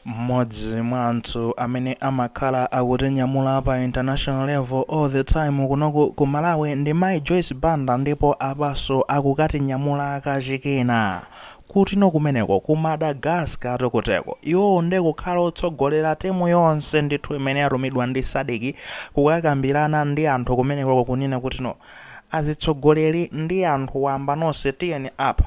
Mmodzi mwa anthu amene amakhala akutinyamula pa international level all the time kunoku ku Malawi ndi Mai Joyce Banda ndipo apanso akukatinyamula kachikena. Kutino kumeneko ku Madagascar tu kuteko. Iwowo nde kukhala otsogolera timu yonse ndithu imene yatumidwa ndi Sadc kukakambilana ndi anthu kumenekoko kunena kutino azitsogoleri ndi anthu wamba nonse tiyeni apa.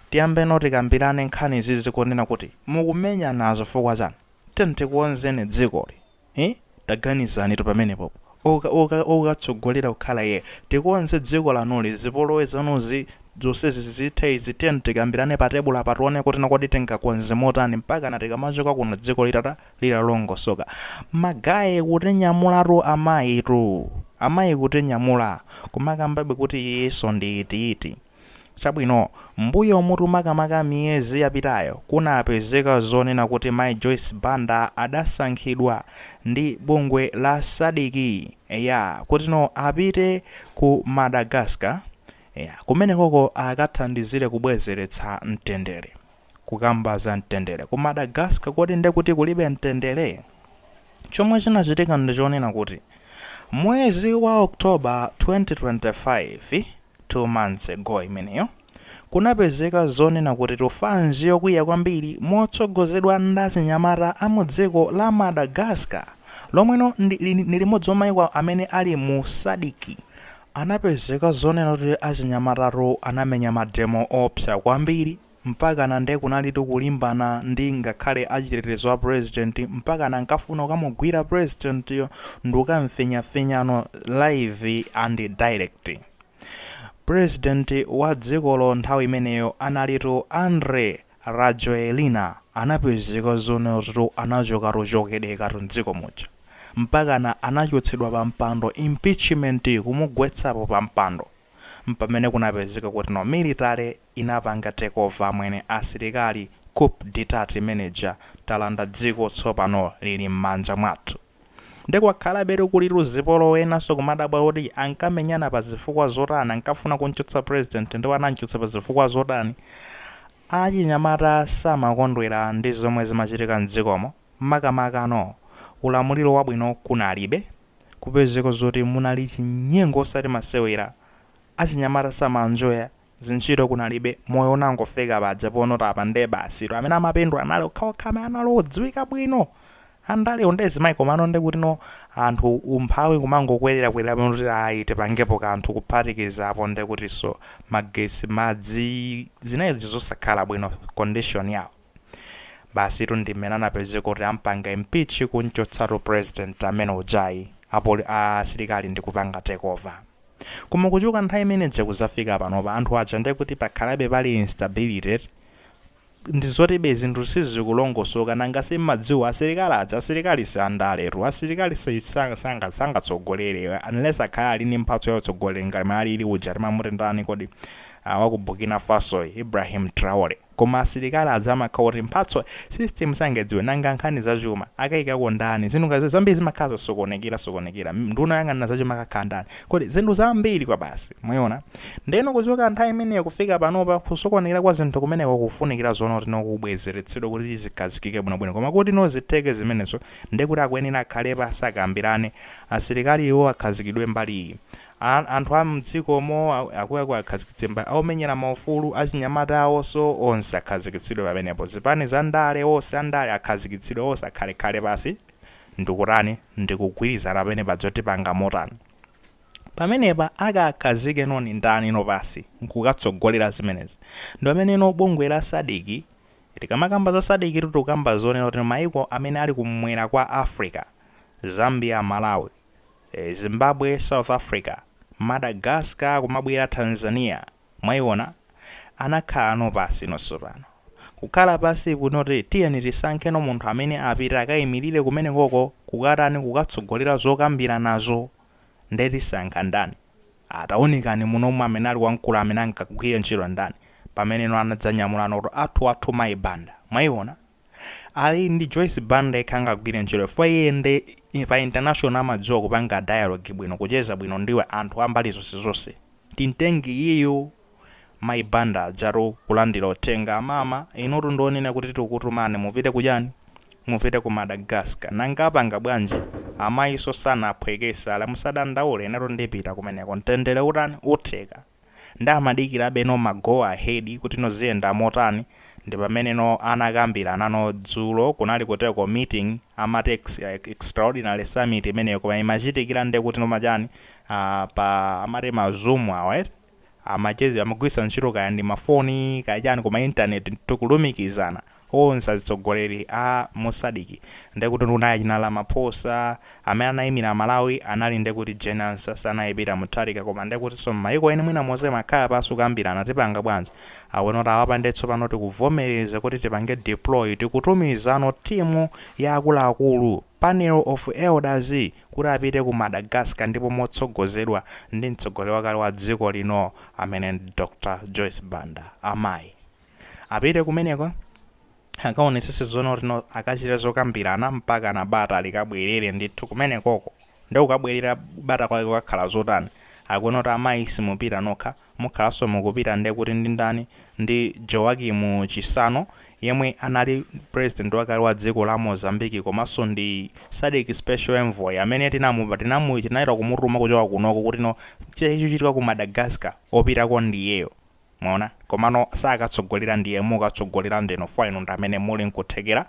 Tiyambeno tikambirane nkhanizizi kunena kuti mukumenyana zifukwa chani? Tiyeni tikonze dzikoli hi taganizanitu pamenepo okatsogolera kukhala iyeyo tikonze dziko lanuli zipolowe zanuzi zonsezi zithe izi tiyeni tikambirane pa tebulo apa tione kuti kodi tingakonze motani mpakana tikamachoka kuno dziko litata litalongosoka ma guy kutinyamulatu amayitu amayi kutinyamula kumakambabe kuti iyiso ndi iti iti Chabwino, mmbuyomutu makamaka miyezi yapitayo kunapezeka zonena kuti Mayi Joyce Banda adasankhidwa ndi bungwe la Sadc, eya, kutino apite ku Madagascar, eya, kumenekoko akathandizire kubwezeretsa mtendere. Kukamba za mtendere ku Madagascar kodi nde kuti kulibe mtendere? Chomwe chinachitika ndi chonena kuti mwezi wa October 2025, 2 months ago imeneyo, kunapezeka zonena kuti tufanzi yokwiya kwambiri motsogozedwa ndi achinyamata a mu dziko la Madagascar lomweno ndi limodzi mwa maiko amene ali mu Sadc. Anapezeka zonena kuti achinyamata tu anamenya mademo oopsa kwambiri. Mpakana nde kunalitu kulimbana ndi ngakhale achitetezo a president mpakana ankafuna kukamugwira president yo n'kukam'finyafinyano live and direct. President wa dzikolo nthawi imeneyo analitu Andry Rajoelina anapezeka zonena zotitu anachoka kuchokedekatu m'dziko muja. Mpakana anachotsedwa pa mpando impeachment kumugwetsapo pa mpando. Mpamene kunapezeka kutino military inapanga take over amwene asilikali coup detat imene ija talanda dziko tsopano lili mmanja mwathu nde kwakhalabetu kulitu zipolowe enanso kumadabwa kuti ankamenyana pa zifukwa zotani ankafuna kumchotsa president ndipo anamchotsa pa zifukwa zotani achinyamata samakondwera ndi zomwe zimachitika mdzikomo makamakano ulamuliro wabwino kunalibe kupezeka zoti munali chinyengo osati masewera achinyamata samanjoya zintchito kunalibe, moyo unangofika paja ponotapa nde basitu, amene amapindula anali okhaokha amene anali odziwika bwino, andalewo nde zimaikoma nde kuti no anthu umphawi kumangokwererakwerera ponoti ayi tipangepo kanthu kuphatikiza apo nde kutinso magetsi, madzi, zinali zinthu zosakhala bwino condition yawo. Basitu ndi mmene anapezeka kuti ampanga impeach kumchotsatu president amene ujayi, a poli, a asilikali ndi kupanga takeover. Koma kuchoka nthawi imene ija kuzafika panopa anthu aja ndekuti pakhalabe pali instability eti? Nde zotibe zinthu sizikulongosoka nanga simmadziwa asilikali aja asilikali si andaletu asilikali sangatsogolere unless akhale ali ndi mphatso ya utsogoleri ngati m'ene alili uja timamuti ndani kodi waku Burkina Fasoyi Ibrahim Traore. Koma asilikali aja amakhala oti mphatso system sangadziwe nanga nkhani za chuma akaikako ndani zinthu zambiri zimakhala zasokonekera sokonekera nduna oyang'anira zachuma akakhala ndani kodi zinthu zambiri kwabasi mwaona ndeno kuchoka nthawi imeneyo kufika panopa kusokonekera kwa zinthu kumeneko kukufunikira zoona kuti no kubwezeretsedwa kuti zikhazikike bwinobwino koma kuti no zitheke zimenezo ndekuti akuyenera akhale pansi akambirane asilikaliwo akhazikidwe mbali iyi A, anthu a mdzikomo a, akuluakulu akhazikitsidwe pa, a omenyera maufulu, achinyamata awonso, onse akhazikitsidwe pamenepo. Zipani za ndale, onse a ndale akhazikitsidwe, onse akhalekhale pansi ndi kutani, ndi kugwirizana pamenepa pa zoti tipanga motani. Pamenepa akakhazike no ni ndani no pansi nkukatsogolera zimenezi. Ndi pamene no bungwe la Sadc, tikamakamba za Sadc tu tikukamba zonena kuti maiko amene ali kumwera kwa Africa, Zambia, Malawi. Zimbabwe south africa madagascar kumabwera tanzania mwaiona anakhala no pansi no sopano kukhala pansi kunoti tiyeni tisankhe no munthu amene apite akaimilire kumenekoko kukatani kukatsogolera zokambiranazo nde tisankha ndani ah taunikani munomo amene ali wamkulu amene angagwire ntchito ndani pamene no anadzanyamula no kuti athu athu mayi banda mwaiona Ali ndi Joyce Banda yekha angagwire ntchito chifukwa iye nde pa international amadziwa kupanga dialogue bwino, kucheza bwino ndi anthu a mbali zonse zonse. Timtenge iyeyo Mayi Banda adzatu kulandira uthenga, Amama inutu ndi wonena kuti tikutumani mupite ku chani? Mupite ku Madagascar. Nanga apanga bwanji? Amayinso sanaphwekese, ali musadandaule inetu ndipita kumeneko. Mtendere utani? Utheka. Nde amadikirabe no ma go ahead kuti no ziyenda motani ndipamene no anakambirana no dzulo kunali kuteko meeting amati ex extraordinary summit imeneyo koma imachitikira nde kuti no ma chani aah pa amati ma zoom awa amacheza amagwiritsa ntchito kaya ndi ma foni kaya chani koma internet to kulumikizana Onse azitsogoleri a mu Sadc ndekuti unayi china Ramaphosa, amene anayimira Malawi anali ndekuti Jane Ansah sanali Peter Mutharika koma ndekutinso mmayiko ena mwina momwe amakhala pansi kukambirana tipanga bwanji awone kuti aa apa nde tsopano tikuvomereza kuti tipange deploy tikutumizano team ya akuluakulu, panel of elders, kuti apite ku Madagascar ndipo motsogozedwa ndi mtsogoleri wakale wa dziko lino amene Dr Joyce Banda. Amayi. Apite kumeneko akaonesese zonena kuti no akachite zokambirana mpaka na bata likabwerere ndithu kumenekoko nde kukabwerera bata kwake kukakhala zotani akunena kuti amayi simupita nokha mukhalanso mukupita nde kuti ndi ndani ndi Joaquim Chissano yemwe anali president wakale wa dziko la Mozambique komanso ndi Sadc special envoy amene tinamu tinamu tinayamba kumutuma kuchoka kunoko kuti no chilichonse chochitika ku Madagascar opitako ndiyeyo Mwaona? Komano sakatsogolera ndiye mukatsogolera ndinu chifwa inu ndi amene muli nkuthekera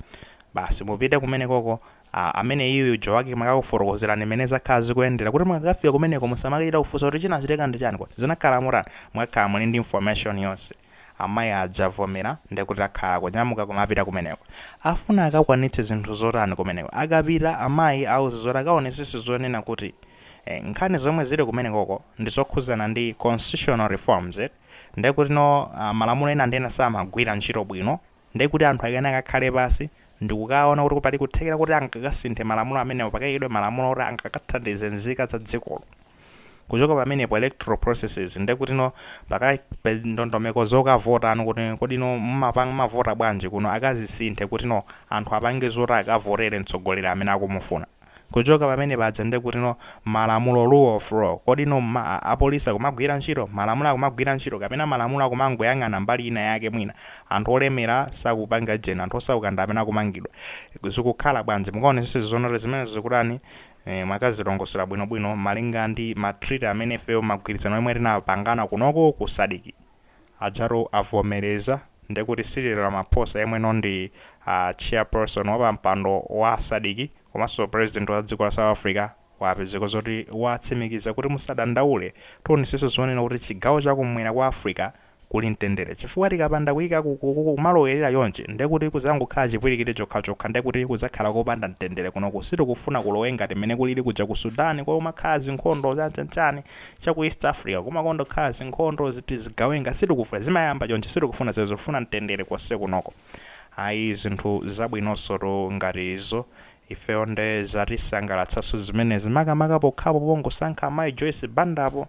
basi mupite kumenekoko ameneyu Joaquim akakufotokozerani mmene zakhala zikuyendera kuti mukakafika kumeneko musamakachita kufunsa kuti chinachitika ndi chani kodi zinakhala motani mukakhala muli ndi information yonse amayi aja avomera ndiye kuti akhala akunyamuka kumapita kumeneko afuna akakwanitse zinthu zotani kumeneko akapita amayi awauza zoti akaonesese zonena kuti eh, nkhani zomwe zili kumenekoko ndizokhudzana ndi constitutional reforms eti, ndekutino malamulo ena ndi ena samagwira ntchito bwino ndekuti anthu akeno akakhale pansi ndikukaona kuti pali kuthekera koti angakasinthe malamulo amenewo pakaikidwe malamulo oti angakathandize nzika za dzikolo kuchoka pamenepo electoral processes ndekutino pakaikidwe ndondomeko zakavotedwe kuti kodino mumapanga mumavota bwanji kuno akazisinthe kutino anthu apange zoti akavotere mtsogoleri amene akumufuna. Kuchoka pamene paja nde kuti no malamulo rule of law kodi no ma police akumagwira ntchito? Malamulo akumagwira ntchito kapena malamulo akumangoyang'ana mbali ina yake mwina anthu olemera sakupanga ujeni anthu osauka ndi amene akumangidwa zikukhala bwanji mukaonesese zonena kuti zimenezo zikutani eh mwakazilongosola bwinobwino malinga ndi ma treaty amene ifeyo magwirizano omwe tinapangana kunoko ku Sadc Ajatu avomereza ndekuti Cyril Ramaphosa yemweno ndi a Chairperson wapampando wa Sadc komanso President wa dziko la South Africa wapezeka zoti watsimikiza kuti musadandaule tionetsetsa zonena kuti chigawo chakumwera kwa Africa kuli mtendere chifukwa tikapanda kuika kumalowerera chonchi ndekuti kuzangokhala chipwilikiti chokhachokha ndekuti kuzakhala kopanda mtendere kunoku sitikufuna kulowe ngati mmene kulili kuja ku Sudan kumakhala zinkhondo chanchanchani cha ku East Africa kumakonda kukhala zinkhondo ziti zigawenga sitikufuna zimayamba chonchi sitikufuna zimenezo tifuna mtendere konsekunoko ayi zinthu zabwinonsotu ngati izo ifeyo nde zatisangalatsanso zimenezi makamaka pokhapo pongosankha amayi Joyce Bandapo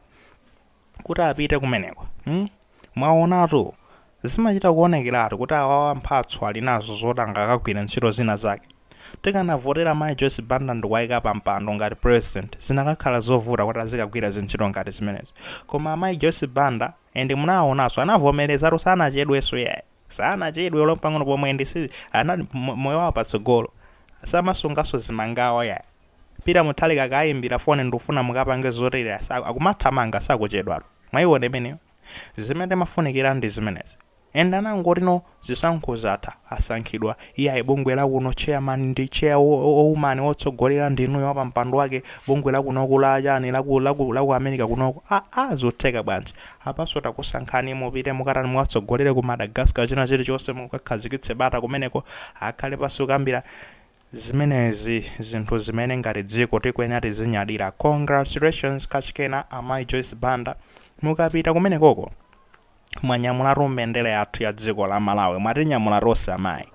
kuti apite kumeneko hmm? Mwaonatu, zimachita kuonekeratu kuti awawa mphatso ali nazo zoti angakagwira ntchito zina zake. Tikanavotera Mayi Joyce Banda ndikuwaika pa mpando ngati President zinakakhala zovuta kuti azikagwira zintchito ngati zimenezi. Koma amayi Joyce Banda and munawaonanso anavomerezatu sanachedwenso iyayi. Sanachedwe olo mpang'ono pomwe ndisi anali mo- moyo wawo patsogolo. Samasunganso zimangawa yayi. Peter Mutharika akawaimbira foni ndikufuna mukapange zotere asa- akumathamanga sakuchedwatu. Mwaiona imeneyo? Zimene timafunikira ndi zimenezi. Ena angoti no zisankho zatha asankhidwa iyayi bungwe la kuno chairman ndi chair wo- wo- woman wotsogolera ndi inuyo wapampando wake bungwe la kunoko la chani la ku la ku la ku America kunoko. Aa zotheka bwanji? Apanso takusankhani mupite mukatani mukatsogolere ku Madagascar china chilichonse mukakhazikitse bata kumeneko akhale pansi nkukambirana zimenezi zinthu zimene ngati dziko tikuyenera tizinyadira congratulations kachikena amayi Joyce Banda mukapita kumenekoko mwanyamulatu mbendera yathu ya dziko la Malawi mwatinyamula tonse amayi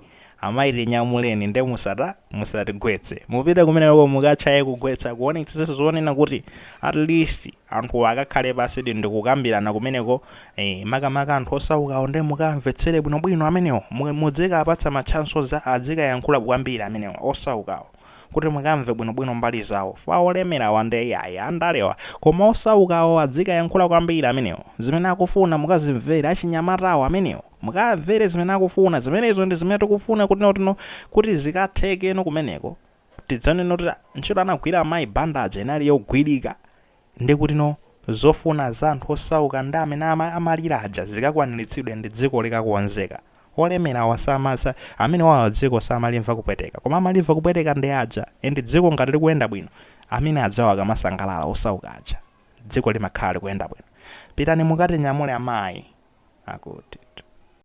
amayi tinyamuleni nde musata musatigwetse mupite kumenekoko mukatchaye kugwetsa kuonetsetsa zonena kuti at least anthu akakhale pansidi ndikukambirana kumeneko eh, makamaka anthu osaukawo nde mukamvetsere bwinobwino amenewo Mu- mudzikapatsa ma chances adzikayankhula kwambiri amenewo osaukawo kuti mukamve bwinobwino mbali zawo aa olemerawa nde yayi andalewa koma osaukawo adzikayankhula kwambiri amenewo zimene akufuna mukazimvere achinyamatawo amenewo mukamvere zimene akufuna zimenezo ndi zimene tikufuna kutino kutino kuti zikathekeno kumeneko tidzanene kuti ntchito anagwira amayi Banda aja inali yogwirika ndi kutino zofuna za anthu osauka ndi amene ama, amalira aja zikakwaniritsidwe ndi dziko likakonzeke. Olemerawa samatha, amenewawa dziko samalimva kupweteka koma amalimva kupweteka ndi aja and dziko ngati likuyenda bwino amene ajawo akamasangalala osauka aja dziko limakhala likuyenda bwino. Pitani mukatinyamule amayi akutitu.